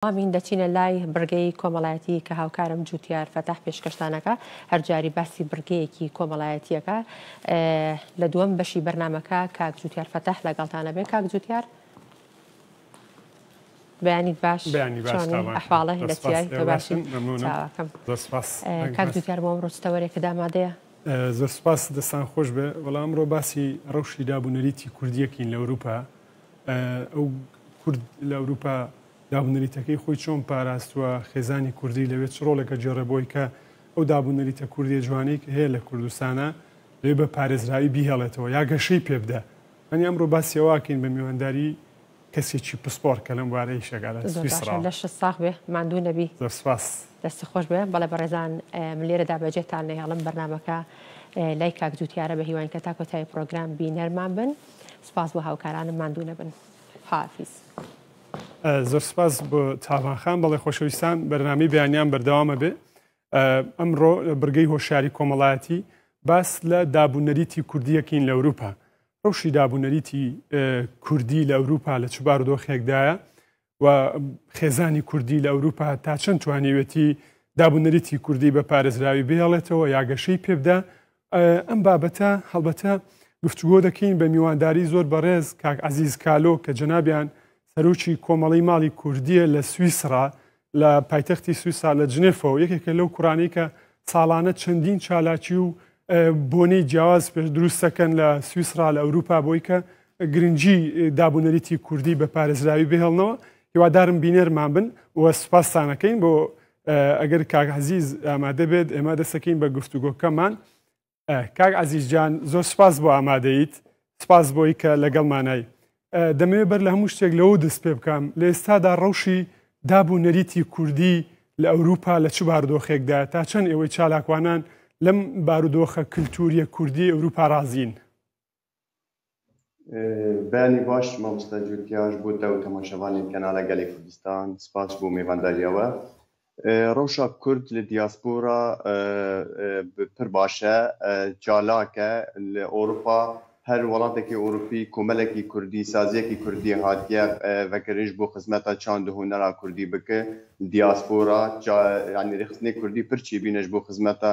ئەمین، دەچینە لای بڕگەی کۆمەڵایەتی کە هاوکارم جوتیار فەتاح پێشکەشتان ئەکا، هەر جاری باسی بڕگەیەکی کۆمەڵایەتی ئەکا. لە دووەم بەشی بەرنامەکە کاک جوتیار فەتاح لەگەڵتان ئەبێ. کاک جوتیار، بەیانیت باش، چۆنی ئەحواڵە، لە چیای؟ تۆ باشی؟ چاواکەم. کاک جوتیار، بۆ ئەمڕۆ چ تەوەرێکت ئامادەیە؟ زۆر سوپاس، دەستان خۆش بێ. وەڵا ئەمڕۆ باسی ڕەوشی داب و نەریتی کوردییەکین لە ئەوروپا. ئەو کورد لە ئەوروپا دابونەریتەکەی خۆی چۆن پاراستوە خێزانی کوردی لەوێ چ ڕۆڵێکە گێڕێ بۆی کە ئەو دابونەریتە کوردی جوانەی کە هەیە لە کوردستانە لێ بە پارێزراوی بیهێڵێتەوە یا گەشەی پێ بدە ئەنی ئەمڕۆ باسیەوەکەین بە میوانداری کەسێکی پسپۆر کە لەم بارەی شەگەلە لەش ساخ بێ مادوو نەبی سپاس دەستی خۆش بێ بەڵێ بەڕێزان لێرەدا بەجێتان نەهێڵم بەرنمەکە لای کاک جوتیارە بە هیوانکە تاکۆتای پرۆگرام بینەرمان بن. سپاس بۆ هاوکارانم ماندوو نەبن حافیز. زۆر سپاس بۆ تاڤانخان بەڵێ خۆشەویستان بەرنامی بەیانیان بەردەوامە بێ ئەمڕۆ بڕگەی هۆشیاری کۆمەڵایەتی باس لە دابوونەریتی کوردیەکین لە ئەوروپا ڕوشی دابوونەریتی کوردی لە ئەوروپا لە چ بارودۆخێکدایە و خێزانی کوردی لە ئەوروپا تا چەند توانیوێتی دابوونەریتی کوردی بە پارێزراوی بێڵێتەوە یاگەشەی پێبدا ئەم بابەتە هەڵبەتە گفتوگۆ دەکەین بە میوانداری زۆر بەڕێز کاک عزیز کالۆ کە جەنابیان سەرۆکی کۆمەڵی ماڵی کوردیە لە سویسرا لە پایتەختی سویسا لە جنێفەوە یەکێکە لەو کوڕانی کە ساڵانە چەندین چالاکی و بۆنەی جیاواز پێش دروست دەکەن لە سویسرا لە ئەوروپا بۆی کە گرنگجی دابوونەریتی کوردی بە پارێزراوی بهێڵنەوە هیوادارم بینەرمان بن و سوپاستانەکەین بۆ ئەگەر کاک عزیز ئامادە بێت ئێمە دەسەکەین بە گفتوگۆکەمان کاک عەزیز جان زۆر سپاس بۆ ئامادەیت سپاس بۆی کە لەگەڵمانای دەمەوێت بەر لە هەموو شتێک لەوە دەست پێ بکەم لە ئێستادا ڕەوشی داب و نەریتی کوردی لە ئەوروپا لە چ باردۆخێکدا تا چەند ئێوەی چالاکوانان لەم بارودۆخە کللتوریە کوردی ئەوروپا رازین. بەیانی باش مامۆستا جوتیاش بۆ تە و تەماشەوانی کەناڵە گەلی کوردستان سپاس بۆ میوانداریەوە ڕەوشا کورد لە دیاسپۆرا پر باشە چالاکە لە ئۆروپا هەر وڵاتێکی ئۆروپی کۆمەلێکی کوردی سازیەکی کوردی هاتیە ڤەکرش بۆ خزمەتا چاند هونەرا کوردی بکە دیاسپۆرا ینی ڕێخستنی کوردی پرچی بینش بۆ خزمەتا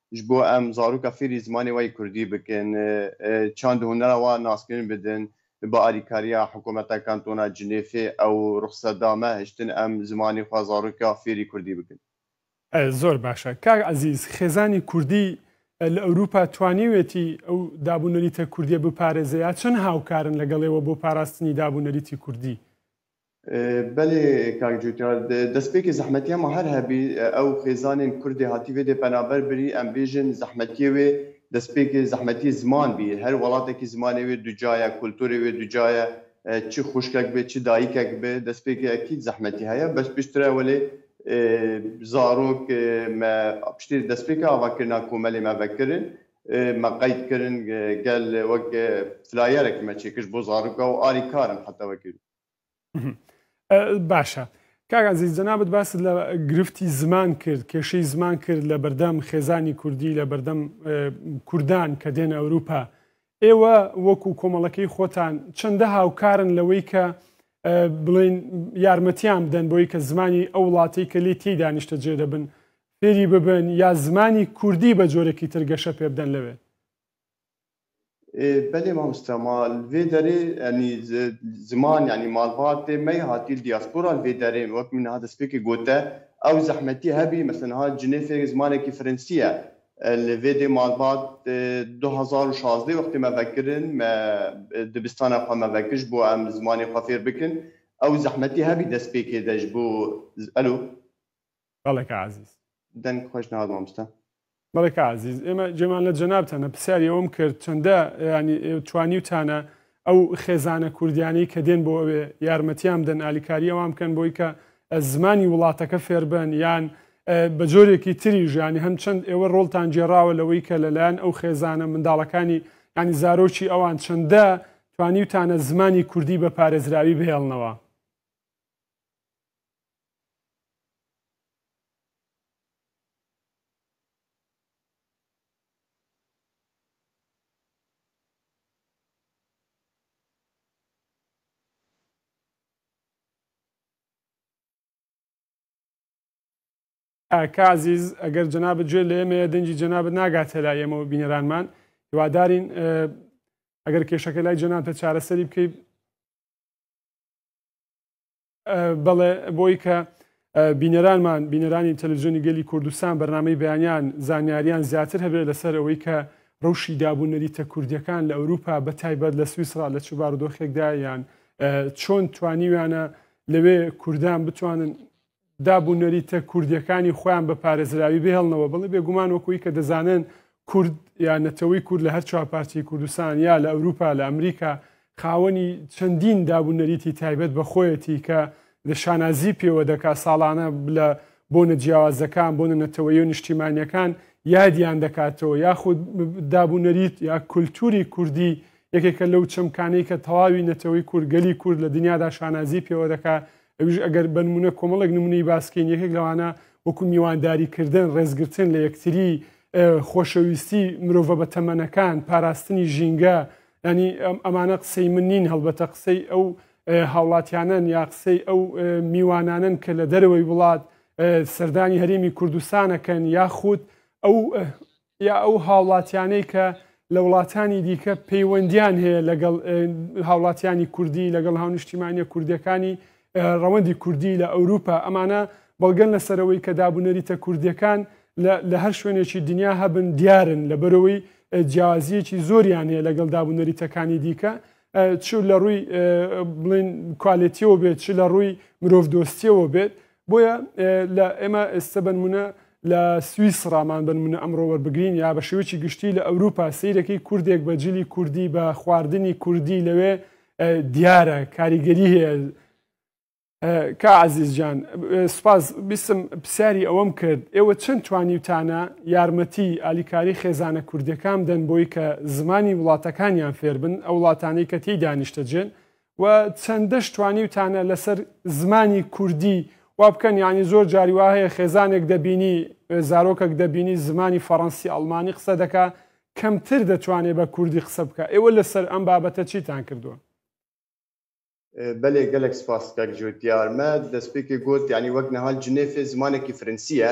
ژ بۆ ئەم زاروکە فیری زمانی وەی کوردی بکن چاند هونەرە وە ناسکرین بدن بە ئاریکاریا حکومەتە کانتۆنا جنێفێ ئەو روخسە دامە هشتن ئەم زمانی خوە زاروکە فیری کوردی بکن. زۆر باشە کاک عەزیز، خێزانی کوردی لە ئەوروپا توانیوێتی ئەو داب و نەریتە کوردیە بپارێزێ یا چەند هاوکارن لەگەڵێوە بۆ پاراستنی داب و نەریتی کوردی؟ بەلێ کاک جوتیار دەسپێکی زەحمەتیە ما هەر هەبی ئەو خێزانێن کوردێ هاتیڤێ دێ پەنابەر بری ئەم بێژن زەحمەتیە وێ دەسپێکی زەحمەتی زمان بی هەر وەڵاتەکی زمانێ وێ دوجایە کولتورێ وێ دوجایە چ خوشکەک بێ چ دایکەک بێ دەسپێکی ئەکید زەحمەتی هەیە بەس پشترە وەلێ زارۆک مە پشتێ دەسپێکە ئاڤا کرنا کۆمەلێ مە ڤە کرن مە قەید کرن گەل وەک فلایەرەکی مە چێکشت بۆ زارۆکا و ئاری کارن حەتا وەکی باشە کاگازیز جەنابەت باست لە گرفتی زمان کرد کێشەی زمان کرد لە بەردەم خێزانی کوردی لە بەردەم کوردان کە دێنە ئەوروپا ئێوە وەکو کۆمەڵەکەی خۆتان چەندە هاوکارن لەوەی کە بڵین یارمەتیان بدەن بۆی کە زمانی ئەو وڵاتی کە لی تی دانیشتە جێ دەبن فێری ببن یا زمانی کوردی بە جۆرەکی ترگەشە پێ بدەن لەوێ بەلێ ماموستا ما لڤێ دەرێ ینی زمان ینی مالبات دێ مەی هاتیل دیاسپورا لڤێ دەرێ وەک منها دەسپێکی گۆتە ئەو زەحمەتی هەبی مەسەن ها جنێ فێ زمانێکی فرنسیە لڤێ دێ مالبات دو هەزار و شازدە وەختی مە ڤەکرن مە دبستانە خوە مە ڤەکش بۆ ئەم زمانێ خوە فێر بکن ئەو زەحمەتی هەبی دەسپێکێ دەش بۆ ئەلو بەڵێ کا عەزیز. دەنگ خۆش ناوت ماموستا. بەڵێ کا عەزیز ئێمە جێمان لە جەنابتانە پرسیاری ئەوەم کرد چەندە یانی توانیوتانە ئەو خێزانە کوردیانەی کە دێن بۆ ئەوێ یارمەتیان بدەن ئالیکاری ئەوان بکەن بۆی کە زمانی وڵاتەکە فێربن یان بە جۆرێکی تری ژیانی هەم چەند ئێوە ڕۆڵتان گێڕاوە لەوەی کە لەلایەن ئەو خێزانە منداڵەکانی ینی زارۆکی ئەوان چەندە توانیوتانە زمانی کوردی بە پارێزراوی بهێڵنەوە کاکە ئازیز ئەگەر جەنابت گوێ لە ئێمەیە دەنگی جەنابت ناگاتە لای ئێمە و بینەرانمان هیوادارین ئەگەر کێشەکە لای جەنابتە چارەسەری بکەیت بەڵێ بۆی کە بینەرانمان بینەرانی تەلوزیۆنی گەلی کوردستان بەرنمەی بەیانیان زانیاریان زیاتر هەبێت لەسەر ئەوەی کە ڕوشی دابوو نەریتە کوردیەکان لە ئەوروپا بە تایبەت لە سویسرا لە چوبارودۆخێکدا یان چۆن توانیویانە لەوێ کوردان بتوانن دابوو نەریتە کوردیەکانی خۆیان بە پارێزراوی بهێڵنەوە بڵێ بێگومان وەکوی کە دەزانن کورد یا نەتەوەی کورد لە هەر چوار پارچەی کوردستان یا لە ئەوروپا لە ئەمریکا خاوەنی چەندین داب و نەریتی تایبەت بە خۆیەتی کە لە شانازی پێوە دەکا ساڵانە لە بۆنە جیاوازەکان بۆنە نەتەوەی و نیشتیمانیەکان یادیان دەکاتەوە یاخود داب و نەریت یا کولتوری کوردی یەکێکە لەو چەمکانەی کە تەواوی نەتەوەی کورگەلی کورد لە دنیادا شانازی پێوە دەکات ئەویش ئەگەر بە نمونە کۆمەڵێک نمونەی باسکەین یەکێک لەوانە وەکو میوانداری کردن ڕێزگرتن لە یەکتری خۆشەویستی مرۆڤە بە تەمەنەکان پاراستنی ژینگە ینی ئەمانە قسەی من نین هەڵبەتە قسەی ئەو هاوڵاتیانن یا قسەی ئەو میوانانن کە لە دەرەوەی وڵات سەردانی هەرێمی کوردستانەکەن یاخود ئەو یا ئەو هاوڵاتیانەی کە لە وڵاتانی دیکە پەیوەندیان هەیە لەگەڵ هاوڵاتیانی کوردی لەگەڵ هاونیشتیمانە کوردەکانی ڕەوەندی کوردی لە ئەوروپا ئەمانە بەڵگەن لەسەرەوەی کە دابوونەریتە کوردیەکان لە هەر شوێنێکی دنیا هەبن دیارن لە بەرەوەی جیازیەکی زۆریان هەیە لەگەڵ دابوونەریتەکانی دیکە چ لە ڕووی بڵین کوالێتیەوە بێت چ لە ڕووی مرۆڤ دۆستیەوە بێت بۆیە لە ئێمە ئێستا بنمونە لە سوئیس ڕامان بنمونە ئەمڕۆ وەربگرین یا بە شێوەی گشتی لە ئەوروپا سیرەکەی کوردێک بە جلی کوردی بە خواردنی کوردی لەوێ دیارە کاریگەری هەیە کا عەزیز جان سوپاس بیسم پرسیاری ئەوەم کرد ئێوە چەند توانیوتانە یارمەتی ئالیکاری خێزانە کوردەکان دەن بۆی کە زمانی وڵاتەکانیان فێربن ئەو وڵاتانەی کە تێی دانیشتەجێن و چەندەش توانیوتانە لەسەر زمانی کوردی وا بکەن ینی زۆر جاری وا هەیە خێزانێک دەبینی زارۆکەک دەبینی زمانی فەڕەنسی ئەڵمانی قسە دەکا کەمتر دەتوانێت بە کوردی قسە بکە ئێوە لەسەر ئەم بابەتە چیتان کردووە بەلێ گەلەک سپاس کاک جوت دیار مە دەسپێکێ گۆت یانی وەک نەهال جنێفێ زمانەکی فرنسییە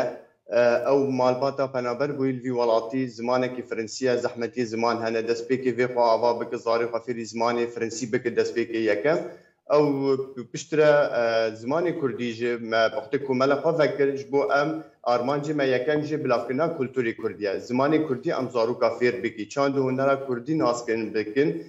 ئەو مالباتا پەنابەر بویل ڤی وەڵاتی زمانەکی فرنسییە زەحمەتی زمان هەنە دەسپێکێ ڤێ خوا ئاڤا بکە زارێ خوا فێری زمانێ فرنسی بکە دەسپێکێ یەکەم ئەو پشترە زمانێ کوردی ژێ مە پەختێ کومەلە خوا ڤەکر ژ بۆ ئەم ئارمانجێ مە یەکەم ژێ بلاڤکردنا کولتوری کوردییە زمانێ کوردی ئەم زاروکا فێر بکی چاند و هونەرا کوردی ناز کردن بکن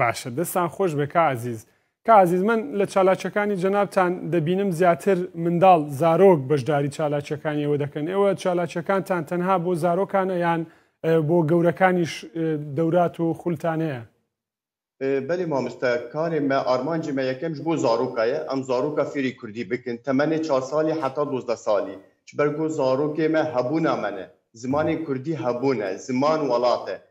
باشە دەستان خۆش بێ کا عەزیز. کا عەزیز من لە چالاکیەکانی جەنابتان دەبینم زیاتر منداڵ، زارۆک بەشداری چالاکیەکانی ئێوە دەکەن، ئێوە چالاکیەکانتان تەنها بۆ زارۆکانە یان بۆ گەورەکانیش دەورات و خولتان هەیە؟ بەلی ماموستا کارێ مە ئارمانجی مە یەکەمیش بۆ زارۆکا یە ئەم زارۆکا فێری کوردی بکن تەمەنێ چار سالی حەتا دۆزدە سالی چ بەرگۆ زارۆکێ مە هەبوونا مەنە زمانێ کوردی هەبوونە زمان وەڵاتە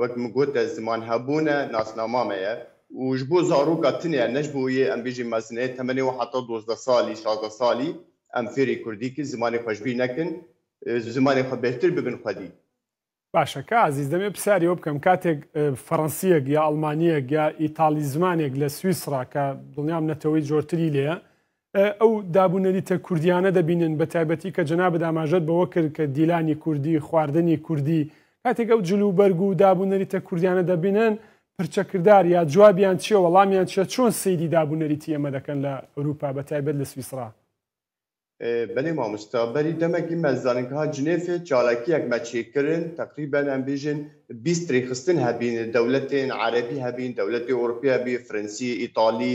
وەک من گۆتە زمان هەبوونە ناسنامامەیە و ژ بۆ زاڕووکا تنێە نەژ بۆ یێ ئەم بێژی مەزنێ تەمەنێ وە حەتا دۆزدە سالی شازدە سالی ئەم فێری کوردی کن زمانێ خوەش بی نەکن زمانێ خوە بێهتر ببن خوەدی. باشە کا عەزیز دەمێ پسیاری ئەوە بکەم کاتێک فەڕەنسیەک یا ئەڵمانیەک یا ئیتاڵی زمانێک لە سویسڕا کە دڵنیام نەتەوەی جۆرتری لێیە ئەو داب و نەریتە کوردییانە دەبینن، بەتایبەتی کە جەنابت ئاماژەت بەوە کرد کە دیلانی کوردی، خواردنی کوردی، کاتێک ئەو جل و بەرگ و داب و نەریتە کوردییانە دەبینن، پرچەکردار یا جوابیان چییە، وەڵامیان چییە، چۆن سەیری داب و نەریتی ئێمە دەکەن لە ئەوروپا، بەتایبەت لە سویسڕا؟ بەلی مامۆستا، بەری دەمێک ئیمە زانگها جنێفێ چالاکییەکمە چیکرن، تەقریبەن ئەمبیژن بیست ریکخستن هەبین، دەولەتێن عەرەبی هەبین، دەولەتێ ئەورپی هەبی، فرنسی، ئیتالی،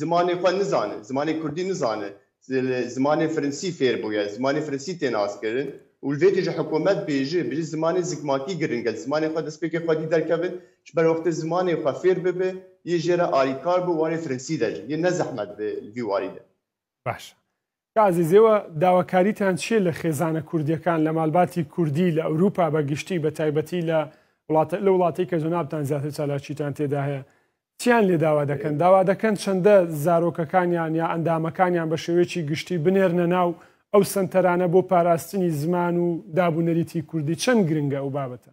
زمانێ خوە نزانن زمانێ کوردی نزانن زمانێ فرنسی فێر بویە زمانێ فرنسی تێ ناس کرن و ڤێ تیژە حکۆمەت بێژێ بژی زمانێ زگماکی گرنگە زمانێ خوە دەس پێکێ خوەدی دەرکەڤن چ بەروەختێ زمانێ خوە فێر ببێ یێ ژێرە ئاری کار بوو وانێ فرنسی دەژن یێ نە زەحمەت بێ ڤی واری دە. باشە کازیز، ئێوە داواکاریتان چییە لە خێزانە کوردییەکان لە مالباتی کوردی لە ئەوروپا بە گشتی بە تایبەتی لە وڵاتە لە وڵاتەی کە جەنابتان زیاتر چالاکیتان تێدا هەیە چیان لێ داوا دەکەن داوا دەکەن چەندە زارۆکەکانیان یا ئەندامەکانیان بە شێوەیەکی گشتی بنێرنە ناو ئەو سەنتەرانە بۆ پاراستنی زمان و داب و نەریتی کوردی چەند گرنگە ئەو بابەتە؟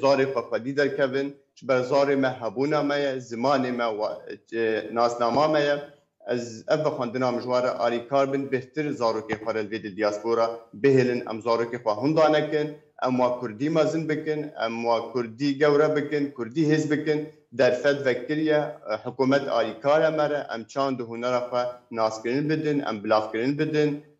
زارێ خوە خوەدی دەرکەڤن، چ بە زارێ مە هەبوونا مە یە، زمانێ مە و ناسناما مە یە. ئەز ئەڤ بە خوەندنا مژوارە ئاری کار بن بهتر زارۆکێ خوە رە لڤێ دیاسپۆرا بهێلن، ئەم زارۆکێ خوە هوندا نەکن، ئەم وە کوردی مەزن بکن، ئەم وە کوردی گەورە بکن، کوردی هێز بکن. دەرفەت ڤەکریە حکۆمەت ئاری کارە مەرە ئەم چاند و هونەرە خوە ناسکرن بدن، ئەم بلاڤکرن بدن.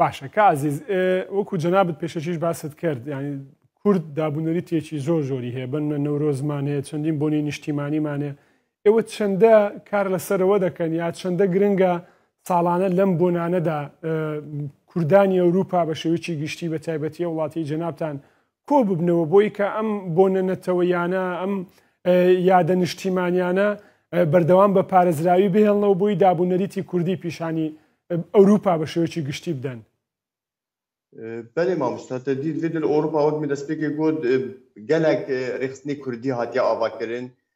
باشە کە ئازیز وەکو جەنابەت پێشەکیش باست کرد ینی کورد دابوونەری تێکی زۆر زۆری هەیە بەن منە نەورۆزمان هەیە چەندین بۆنی نیشتیمانیمان هەیە ئێوە چەندە کار لەسەرەوە دەکەن یا چەندە گرنگە ساڵانە لەم بۆنانەدا کوردانی ئەوروپا بە شێوکی گشتی بە تایبەتی وڵاتی جەنابان کۆببنەوە بۆی کە ئەم بۆنە نەتەوەیانە ئەم یادە نیشتیمانیانە بەردەوام بە پارێزراوی بهێڵنەوە بۆی دابوونەریتی کوردی پیشانی ئەوروپا بە شێوەیەکی گشتی بدەن. بەێ مامۆستا تە دید ڤێدل ئۆروپا وەک من دەستپێکی گوت گەلک ڕێخستنی کوردی هاتیە ئاواکردن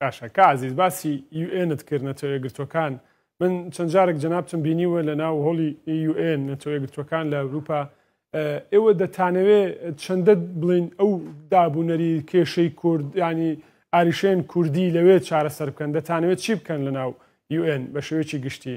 باشە کا عەزیز باسی یو ئێنت کرد نەتەوە یەکگرتووەکان من چەند جارێک جەنابتم بینیوە لە ناو هۆڵی یو ئێن نەتەوە یەکگرتووەکان لە ئەوروپا ئێوە دەتانەوێ چەندە بڵین ئەو دابوونەری کێشەی کورد ینی ئاریشێن کوردی لەوێ چارەسەر بکەن دەتانەوێت چی بکەن لە ناو یو ئێن بە شێوەیەکی گشتی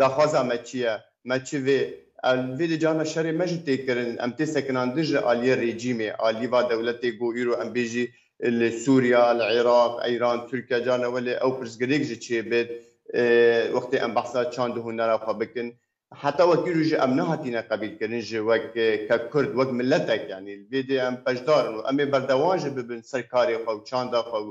داخوازا مە چیە مە چ ڤێ ئە ڤێ دە جامە شەرێ مە ژ تێ کرن ئە متێ سە کنان دژ ئە لی رێجیمێ ئە لی ڤا دە ولە تێ گۆ ئیرۆ ئە مبێ ژی لە سوریا لە عێراق ئە یران تورکیا جا نە وە لێ ئە و پرس گرێک ژ چێ بێت ئێ وەختێ ئە م بەحسا چاند و هونە رە خۆ بکن حتا وە کیرو ژ ئە م نە هاتینە قە بیل کرن ژ وە ک کە کورد وە ک مللە تە ک یانی ڤێ دێ ئە م پە ژدارن و ئە مێ بەردەوان ژ ببن سەر کارێ خۆ و چاندە خۆ و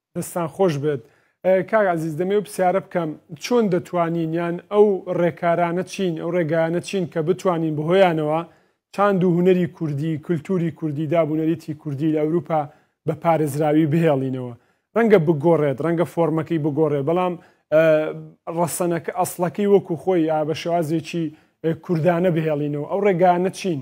دەستان خۆش بێت کاک عزیز دەمەوێت پسیارە بکەم چۆن دەتوانین یان ئەو ڕێکارانە چین ئەو ڕێگایانە چین کە بتوانین بەهۆیانەوە چاند و هونەری کوردی کللتوری کوردی دابوونەریتی کوردی لە ئەوروپا بە پارێزراوی بهێڵینەوە ڕەنگە بگۆڕێت ڕەنگە فۆرمەکەی بگۆڕێ بەڵام ڕەسەنەکە ئەسڵەکەی وەکو خۆی یا بە شێوازێکی کوردانە بهێڵینەوە ئەو ڕێگانە چین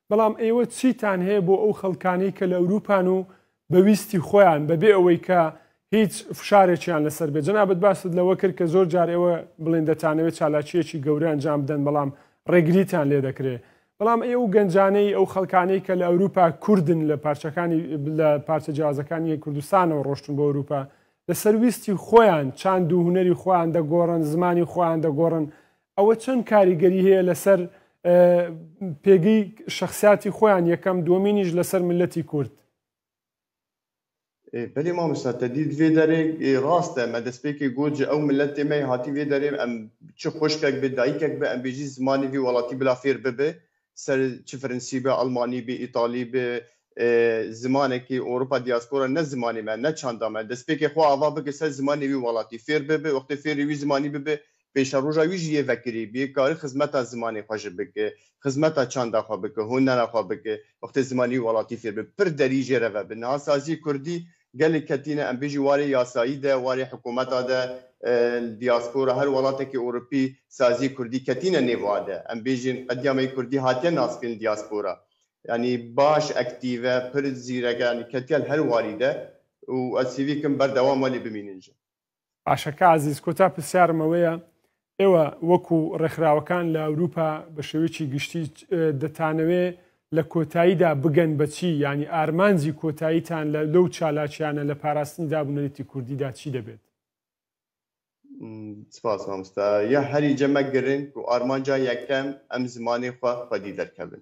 بەڵام ئێوە چیتان هەیە بۆ ئەو خەڵکانەی کە لە ئەوروپان و بە ویستی خۆیان بە بێ ئەوەی کە هیچ فشارێکیان لەسەر بێت؟ جەنابت باست لەوە کرد کە زۆر جار ئێوە بڵێن دەتانەوێت چالاکییەکی گەورە ئەنجام بدەن بەڵام ڕێگریتان لێ دەکرێت. بەڵام ئەی ئەو گەنجانەی ئەو خەڵکانەی کە لە ئەوروپا کوردن لە پارچەکانی لە پارچە جیاوازەکانی کوردستانەوە ڕۆشتن بۆ ئەوروپا لەسەر ویستی خۆیان چاند و هونەری خۆیان دەگۆڕن زمانی خۆیان دەگۆڕن ئەوە چەند کاریگەری هەیە لەسەر پێگەی شخصیاتی خۆیان یەکەم دومینیش لەسەر ملەتی کورد. بەێ مامستا تەدید وێ دەرێک ڕاستە مە دەستپێکی گۆجە ئەو ملەت تێمای هاتی وێ دەرێم ئەم چ خوشکێک بێ دایکێک بە ئەمبێژی زمانی وی وڵاتی بلا فێر ببێ سەر چ فرنسی بێ ئەڵمانی بێ ئیتاڵی بێ زمانێکی ئەوروپا دیاسپۆرە نە زمانی مە نە چاندا مە دەستپێکێ خۆ ئاوا بکە سەر زمانی وی وەڵاتی فێر ببێ وەختێ فێری وی زمانی ببێ پێشە ڕۆژا ویژ یێ ڤەکری بێ کاری خزمەتا زمانی خۆ ژە بکێ خزمەتا چاندا خۆ بکە هونەرا خۆ بکێ وەختێ زمانی وەڵاتی فێر بێ پر دەری ژێرە ڤە بناسازی کوردی گەلک کەتینە ئەم بژی وارێ یاسایی دە وارێ حکوومەتا دە ل دیاسپۆرا هەر وەڵاتەکی ئوڕوپی سازی کوردی کەتینە نێڤ ئادە ئەم بژین قەدیامەی کوردی هاتیە ناسکرین دیاسپۆرا یانی باش ئەکتیڤە پر زیرەکە یانی کەتیە هەر واری دە و ئەسیڤی کم بەردەوام وەلی بمینن ژن باشە کا ئازیز کۆتا پرسیارم ئەوەیە ئێوە وەکو ڕێکخراوەکان لە ئەوروپا بە شێوەیەکی گشتی دەتانەوێ لە کۆتاییدا بگەن بەچی ینی ئارمانجی کۆتاییتان لە لەو چالاکیانە لە پاراستنی دابنەریتی کوردیدا چی دەبێت سپاس مامستا یا هەری جەمە گرنگ و ئارمانجا یەکەم ئەم زمانی خوا خودی دەرکەبن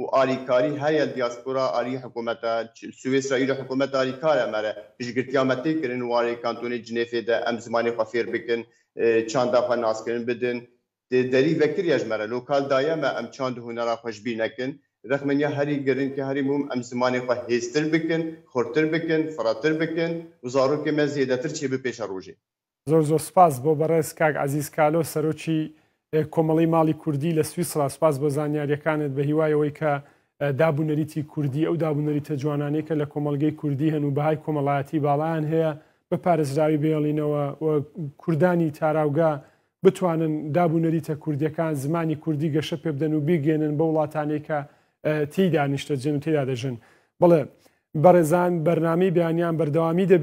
و ئالیکاری هەیە لە دیاسپۆرا ئالی حکوومەتا سویسرا ئیرۆ حکوومەت ئالیکارە مەرە پشگرتیا مە تێ کرن وارێ کانتۆنێ جنێفێ دە ئەم زمانێ خوە فێر بکن چاندا خوە ناس کرن بدن دێ دەری ڤە کریاش مەرە لۆکال دایە مە ئەم چاند و هونەرا خوە ژبی نەکن رخمنیا هەری گرنگ کە هەری موم ئەم زمانێ خوە هێز تر بکن خورتر بکن فرە تر بکن و زاروکێ مە زێدە تر چێ بپێشە رووژێ زۆر زۆر سپاس بۆ بەڕێز کاک عەزیز کالۆ سەرۆکی کۆمەڵەی ماڵی کوردی لە سویسڕا سپاس بۆ زانیاریەکانت بە هیوای ئەوەی کە داب و نەریتی کوردی ئەو داب و نەریتە جوانانەی کە لە کۆمەڵگەی کوردی هەن و بەهای کۆمەڵایەتی باڵایان هەیە بە پارێزراوی بێڵینەوە و کوردانی تاراوگە بتوانن داب و نەریتە کوردیەکان زمانی کوردی گەشە پێ بدەن و بیگەێنن بە وڵاتانی کە تیدا نیشتەجێن و تێدا دەژن بڵێ بەڕێزان بەرنامی بیانیان بەردەوامی دەبێت